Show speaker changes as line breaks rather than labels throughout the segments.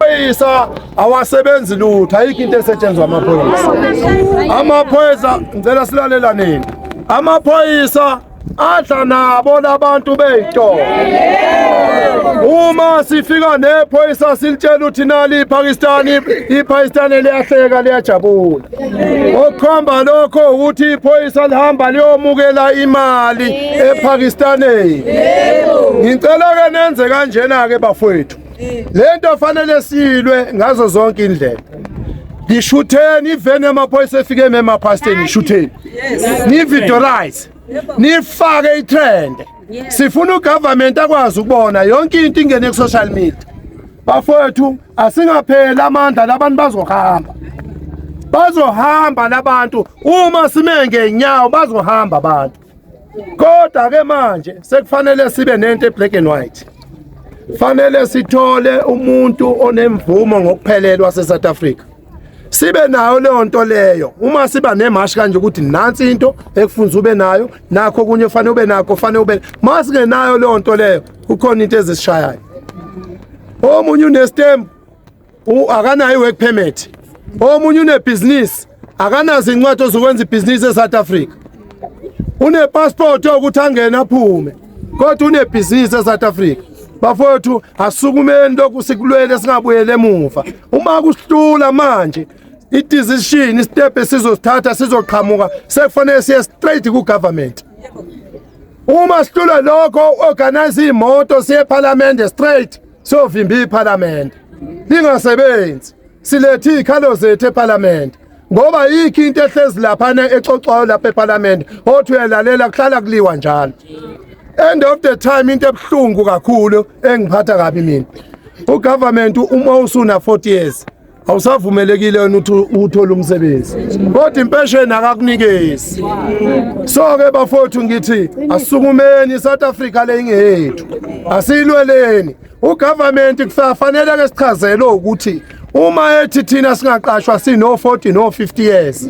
Amaphoyisa awasebenzi lutho, ayikho into esetshenzwa amaphoyisa. Amaphoyisa ngicela silalelaneni. Amaphoyisa adla nabo labantu beyitolo. Uma sifika nephoyisa silitshela ukuthi nali iPakistan iPakistan liyahleka liyajabula. Okukhomba lokho ukuthi iphoyisa lihamba liyomukela imali ePakistan. Ngicela ke nenze kanjena ke bafowethu. lento fanele silwe ngazo zonke indlela ngishutheni iveni yamaphoyisa efike ememapasteni ishutheni nividorize nifake itrend sifuna ugovernment akwazi ukubona yonke into ingene ku-social media bafowethu asingapheli amandla labantu bazohamba bazohamba labantu uma sime ngenyawo bazohamba abantu kodwa ke manje sekufanele sibe nento eblack and white fanele sithole umuntu onemvumo ngokuphelelwa seSouth Africa sibe nayo leyo nto leyo uma siba nemashi kanje ukuthi nansi into ekufunza ube nayo nakho kunye ufanele ube nakho ufanele ube masingenayo leyo nto leyo kukhona into ezisishayayo omunye unestembu akanayo i-work permit omunye unebhizinisi akanazo incwadi ozokwenza ibhizinisi e-south africa unepasipoti yokuthi angene aphume kodwa unebhizinisi e-south africa bafowethu asukumeni lokhu sikulwele singabuyele emuva uma kusihlula manje i-decision istep esizosithatha sizoqhamuka sekufanele siye straight ku-government uma sihlule lokho organize iy'moto siye ephalamende straight Sovimba iParliament lingasebenzi. Silethe izikhalo zethu eParliament. Ngoba yikho into ehlezi lapha ne exoxwayo lapha eParliament othi uyalalela kuhlala kuliwa njalo. End of the time into ebuhlungu kakhulu engiphatha kabi mina. ugovernment uma usuna 40 years awusavumelekile wena ukuthi uthole umsebenzi kodwa impesheni akakunikezi so-ke bafowethu ngithi asukumeni i-south africa le ingeyethu asiyilweleni ugovernment kufanele-ke sichazelwe ukuthi uma ethi thina singaqashwa sino-40 no-50 years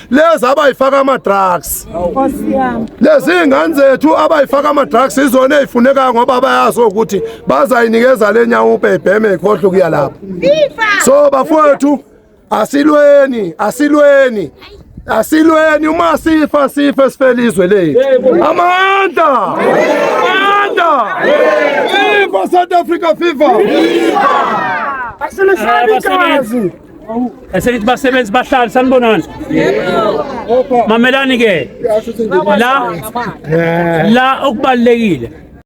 lezi abayifaka ama-drugs lezi iy'ngane zethu abayifaka ama-drugs izona ey'funekayo ngoba bayazi ukuthi bazayinikeza le nyawupe ibheme ikhohlwe kuya lapho so bafowethu asilweni asilweni asilweni uma sifa sife sifele izwe lethu amandla amandla viva south africa viva asilishani
igazi Eselithi basebenzi bahlali sanibonani? Mamelani ke. La la okubalekile